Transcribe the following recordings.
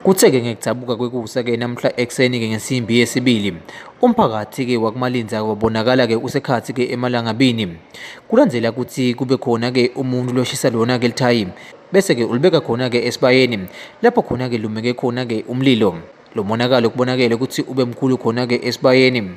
Kuthe-ke ngekugcabuka kwekusa-ke namhla ekuseni-ke ngensimbi yesibili umphakathi-ke wakumalinza wabonakala-ke usekhathi-ke emalangabini kulandela ukuthi kube khona-ke umuntu loshisa lona-ke lithayi bese-ke ulibeka khona-ke esibayeni lapho khona-ke lumeke khona-ke umlilo lo monakalo kubonakele ukuthi ube mkhulu khona-ke esibayeni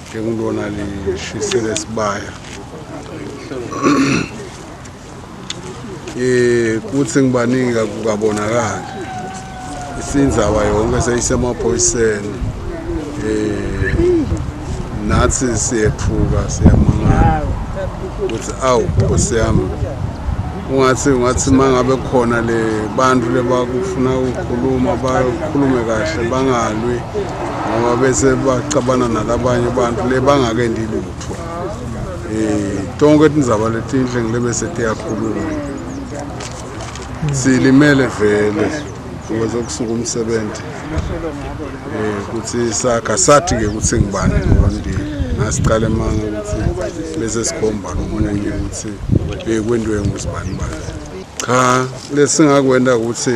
Njengulona lishisele sibaya. Eh kuthi ngibaningi kakubonakala. Isindzaba yonke seyisemaphoyiseni. Eh nathi siyethuka siyamangala. Kuthi awu Nkosi yami ungathi ungathi mangabe khona le bantu lebakufuna ukukhuluma bakhulume kahle bangalwi ngoba bese baxabana nalabanye abantu le bangake ndilutho eh tonke tindzaba letinhle ngile bese tiyakhuluma silimele vele ukuze kusuka umsebenzi eh kuthi sakha sathi ke ukuthi ngibani ngondile ngasiqala emanga ukuthi bese sikhomba nomunye ukuthi bekwendiwe ngusibani bani cha lesingakwenda ukuthi